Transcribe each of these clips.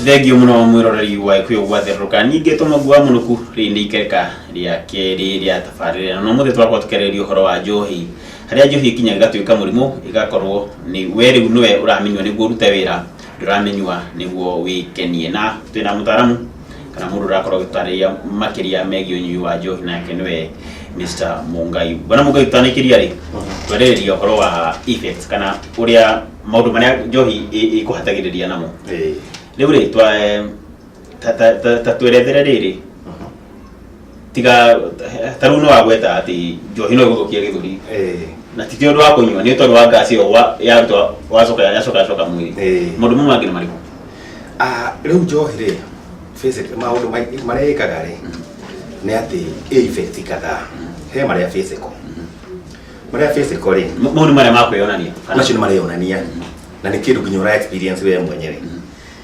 thengio muno mwiroreri wa ikuyo gwatherũka ningĩ tũmagua mũnuku rĩndĩ ikereka rĩa kerĩ rĩa tabarĩra no mũthĩ twakorwo tũkereria ũhoro wa njohi harĩa njohi ikinya ĩgatuĩka mũrimũ ĩgakorwo nĩ we rĩu nĩwe ũramenywo nĩguo ũrute wĩra ndũramenywa nĩguo wĩkenie na twĩna mũtaramu kana mũndũ ũrakorwo agĩtarĩria makĩria megiĩ ũnyui wa njohi nake nĩwe Mr. Mungai bwana Mungai twanĩkĩria rĩ twarĩrĩria ũhoro wa effects kana ũrĩa maũndũ marĩa njohi ĩ- ĩkũhatagĩrĩria namo Eh, rĩu rĩ twa- ta- ta- ta- ta twerethere rĩrĩ tiga ta rĩu nĩ wagweta atĩ njohi no ĩgũthũkia gĩthũri Eh, na ti ũndũ wa kũnyua nĩ tondũ wa ngasi ĩyo wa- yaruta wacoka yacoka yacoka mwĩrĩ eh. maũndũ mau mangĩ nĩ marĩkũ Ah, rĩu njohi rĩ basic- maũndũ maingĩ marĩa ĩkaga rĩ nĩ atĩ ĩ effect kadhaa he marĩa physical marĩa physical rĩ M- mau nĩ marĩa ma kwĩyonania kana- macio nĩ mareyonania na nĩ kĩndũ nginya ũra experience we mwenyewe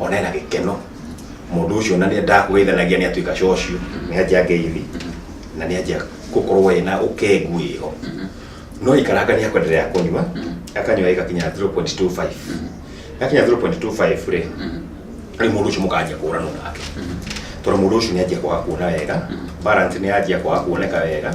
ona ena gĩkeno mũndũ ũcio na nĩ ndakũgeithanagia nĩ atuĩka cocio nĩ anjia ngeithi na nĩ anjia gũkorwo ena ũkengu wĩho no ikaranga nĩ akwenderea kũnyua akanyua ĩgakinya 0.25 yakinya 0.25 rĩ rĩu mũndũ ũcio mũkanjia kũranwo nake tondũ mũndũ ũcio nĩ anjia kwaga kuona wega balance nĩ yanjia kwaga kuoneka wega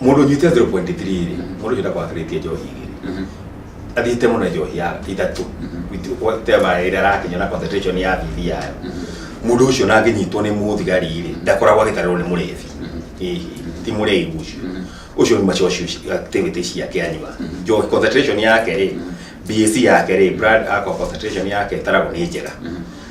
mundu nyite 0.3 ri mundu ucio ndakwakiritie njohi igiri Mhm. athiite muno njohi ya ithatu whatever ira arakinya na concentration ya bibi yayo mundu ucio na anginyitwo ni muthigari ri ndakoragwo agitarirwo ni murethi Hihi, ti murethi ucio ucio ni macocio activity ciake anyua njohi concentration yake ri BAC yake ri blood alcohol concentration yake itaragwo ni njega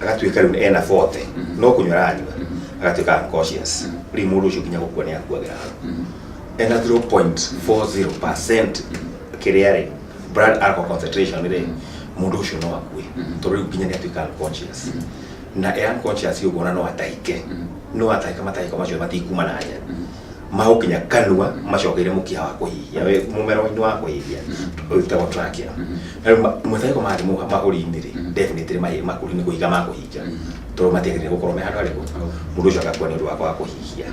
agatuĩka rĩu ena 40 Mhm. no kũnywa aranyua Mhm. agatuĩka unconscious Mhm. rĩu mũndũ ũcio nginya gũkua nĩ akuagĩra hau Mhm. ena 0.40% kĩrĩa rĩ blood alcohol concentration rĩ mũndũ ũcio no akue Mhm. tondũ rĩu nginya nĩ atuĩka unconscious Mhm. na e unconscious ũguo na no atahike Mhm. no atahika matahika macio matikuma na hanya Mhm. magũkinya kanua macokeire mũkiha wa kũhihia we mũmero inĩ wa kũhihia ũyũ wĩtagwo trachea na rĩu ma- mũtarĩko marathiĩ mũha- mahũri-inĩ rĩ definitely mahĩ- makũri nĩ kũhinga makũhinga tondũ matiagĩrĩire gũkorwo me handũ harĩkũ mũndũ ũcio agakua nĩ ũndũ wa kwaga kũhihia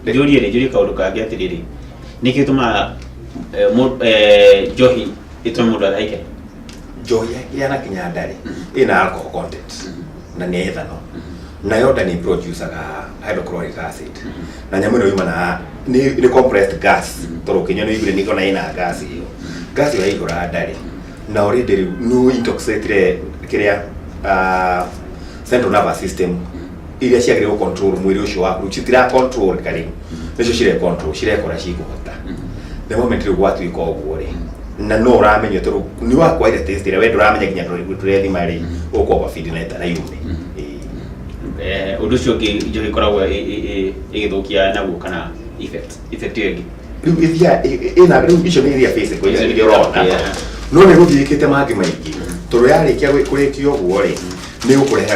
njũrie rĩ njũrie kaũndũ kangĩ atĩrĩrĩ nĩkĩ tũmaga njohi ĩtũme mũndũ athaike njohi ya- yanakinya ndarĩ ĩna alcohol content na nĩ ethano na yoda nĩ producaga hydrochloric acid na nyamũ ĩno yumana nĩ nĩ compressed gas tondũ ũkĩnyua nĩ igure nĩ kona ina gas ĩyo gas ĩyo yaihũra ndarĩ na already rĩu nĩ intoxicate kĩrĩa ah, central nervous system iria ciagĩrĩirwo control mwĩrĩ ũcio waku citira control ka rĩu nĩcio cirekontrol cirekora cikũhota the moment rĩu gwatuĩka ũguo rĩ na no ũramenya tondũ nĩ wakwaire test ĩrĩa we ndũramenya nginya tũrĩgu tũrethima rĩ ũkwamba bindi na ĩtara yume Eh, ũndũ ũcio ũngĩ njohi ĩkoragwo ĩ- ĩ- ĩ- ĩgĩthũkia naguo kana effect effect ĩyo ĩngĩ rĩu ĩthiaga ĩna rĩu icio nĩ iria physical icio nĩ iria ũrona Yeah. no nĩ gũthiĩkĩte mangĩ maingĩ tondũ yarĩkia gwĩ- kũrĩkia ũguo rĩ nĩ ũkũreha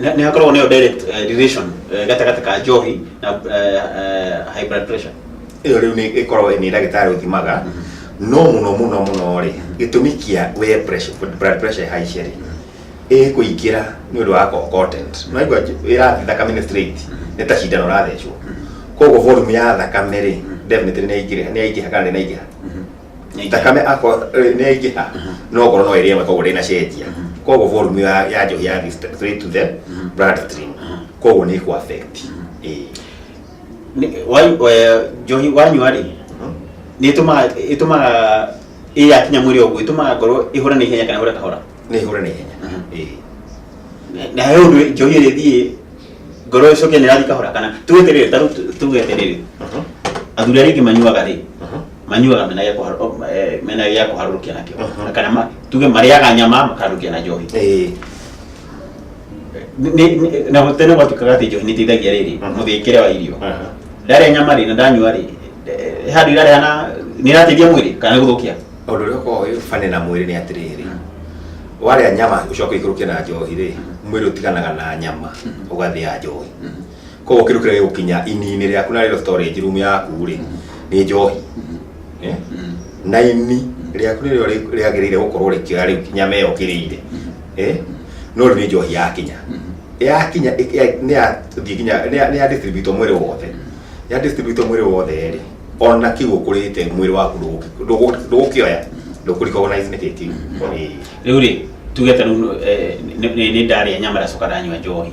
Nĩ- nĩ hakoragwo nayo direct eh, relation eh, gatagatĩ ka njohi na eh, eh, high blood pressure ĩyo rĩu nĩ ĩkoragwo nĩ ndagĩtarĩ ũthimaga no mũno mũno mũno rĩ gĩtũmi kĩa we pressure, blood pressure haice rĩ ĩ kũingĩra nĩ ũndũ wa co- content naigua ĩrathiĩ thakame-inĩ straight nĩ ta cindano ũrathecwo koguo volume ya thakame rĩ definitely nĩ yaingĩha nĩ yaingĩha kana nĩ yaingĩha Nĩ thakame akorwo nä aingä ha no ngoro no ä rä amwe koguo ndä na cenjia koguo volume ya ya njohi ya straight to the blood stream koguo nä kå affect Ĩĩ. Nĩ- wa- eh, njohi wanyua rĩ nĩ ĩtũmaga ĩtũmaga ĩ yakinya mwĩrĩ ũguo ĩtũmaga ngoro ĩhũre na ihenya kana ĩhũre kahora nä hå re nä ihenya Mhm. Ĩĩ. Na- na he ũndũ njohi ĩrĩ thiĩ ngoro ĩcoke nĩ ĩrathiĩ kahora kana tuge terĩrĩ tarĩu tuge terĩrĩ Mhm. athuri arĩa aingĩ manyuaga rĩ Mhm. manyuaga mena gĩa kũhar- o, eh, mena gĩa kũharũrũkia nakĩo Mhm. Na kana ma- tuge marĩaga nyama makaharũrũkia na njohi Eh, Nĩ- nĩ- na tene gwatuĩkaga atĩ njohi nĩ ĩteithagia rĩrĩ Mhm. mũthĩkĩre wa irio aha. ndarĩa nyama rĩ na ndanyua rĩ eh, handũ irarĩa na nĩ ĩrateithia mwĩrĩ kana nĩ gũthũkia Ũndũ ũrĩa ũkoragwo wĩ bane na mwĩrĩ nĩ atĩrĩrĩ. Warĩa nyama ũcoke ikũrũke na njohi rĩ, mwĩrĩ ũtiganaga na nyama ũgathĩa njohi. koguo kĩndũ kĩrĩa gĩgũkinya ini-inĩ rĩaku na rĩo storage room yaku rĩ nĩ njohi Eh? na ini rĩaku nĩrĩo rĩ- rĩagĩrĩire gũkorwo rĩkĩoya rĩu kinya meyo kĩrĩire Eh? no rĩu nĩ njohi yakinya yakinya ĩ- ya- nĩ yathiĩ kinya nĩ ya- nĩ ya distribute mwĩrĩ wothe ya distribute mwĩrĩ wothe rĩ ona kĩu ũkũrĩte mwĩrĩ waku ndũgũki- ndũgũ- ndũgũkĩoya ndũkũrikogonize nĩ kĩkĩu rĩu rĩ tuge ta rĩu eh, nĩ- nĩ nĩ ndarĩa nyama ndacoka ndanyua njohi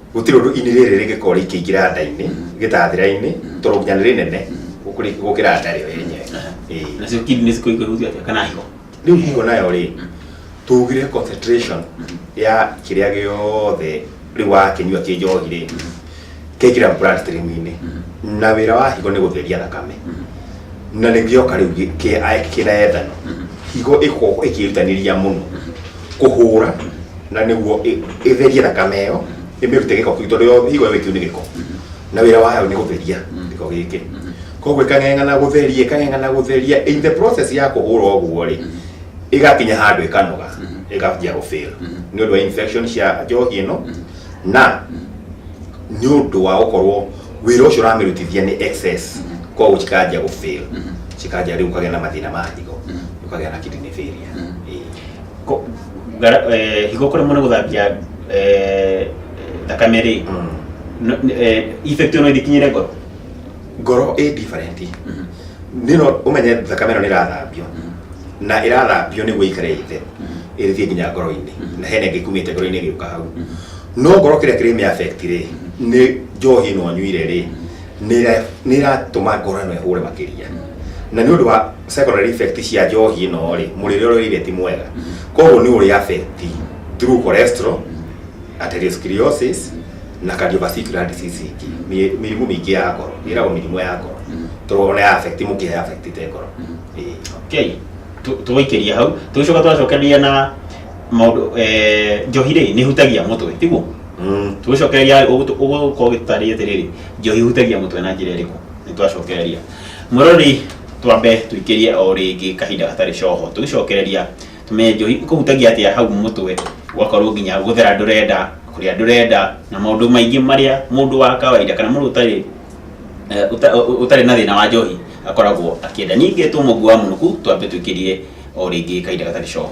gũtirĩ ũndũ ini rĩrĩ rĩgĩkorwo rĩkĩingĩra nda-inĩ gĩtathĩra-inĩ tondũ nginya nĩ rĩnene gũkĩrĩ- gũkĩra nda rĩo yenyewe Ĩĩ. nacio kindi nĩ cikũigua ihutio atĩa kana higo rĩu higo nayo rĩ tugire concentration ya kĩrĩa gĩothe rĩu wakĩnyua kĩ njohi rĩ kĩngĩra bloodstream-inĩ na wĩra wa higo nĩ gũtheria thakame na nĩgĩoka rĩu gĩ- kĩ- a- kĩna ethano higo ĩkoragwo ĩkĩrutanĩria mũno kũhũra na nĩguo ĩ- ĩtherie thakame ĩyo ĩmĩrute gĩko kĩu tondũ yo higo ĩyo ĩkĩu nĩ gĩko na wĩra wayo nĩ gũtheria gĩko gĩkĩ koguo ĩkang'eng'ana gũtheria ĩkang'eng'ana gũtheria in the process ya kũhũra ũguo rĩ ĩgakinya handũ ĩkanoga ĩgambia gũfail nĩ ũndũ wa infection cia njohi ĩno na nĩ ũndũ wa gũkorwo wĩra ũcio ũramĩrutithia nĩ excess koguo cikanjia gũfail cikanjia rĩu ũkagĩa na mathĩna ma higo ũkagĩa na kidney failure Ko- gara- eh, higo kore mono gothambia eh, thakame rĩ no- eh, effect ono ithikinyire ngoro ngoro ĩ different nĩno ũmenye thakame ĩno nĩ ĩrathambio na ĩrathambio nĩguo ĩikare ĩthe ĩrĩthiĩ nginya ngoro-inĩ na hena ĩngĩ kumĩte ngoro-inĩ ĩgĩũka hau no ngoro kĩrĩa kĩrĩ mĩaffect rĩ nĩ njohi ĩno nyuire rĩ nĩ ĩra- nĩ ĩratũma ngoro ĩno ĩhũre makĩria na nĩ ũndũ wa secondary effect cia njohi ĩno rĩ mũrĩre ũrĩa ũrĩire ti mwega koguo nĩ ũrĩ affect through cholesterol atherosclerosis na cardiovascular disease ingĩ Mĩ- mĩrimũ mĩingĩ ya ngoro ĩragwo mĩrimũ ya ngoro tondũ ona ya affect mũkiha ya affect te ngoro Ĩĩ. okay Tu- tũgũikĩria hau tũgĩcoka twacokereria na maũndũ eh, njohi rĩ nĩ hutagia mũtwe tiguo Mm. tũgĩcokereria ũgũkorwo gĩtarĩ atĩrĩrĩ njohi hutagia mũtwe na njĩra ĩrĩkũ nĩ twacokereria Mũrori twambe tũikĩrie o rĩngĩ kahinda gatarĩ coho tũgĩcokereria tũmenye njohi ikũhutagia atĩa hau mũtwe ũgakorwo nginya gũthera ndũrenda kũrĩa ndũrenda na maũndũ maingĩ marĩa mũndũ wa kawaida kana mũndũ ũtarĩ eh, ũta- ũ- ũtarĩ na thĩna wa njohi akoragwo akĩenda ningĩ tũ mũguo wa mũnuku twambe tũikĩrie o rĩngĩ kahinda gatarĩ coho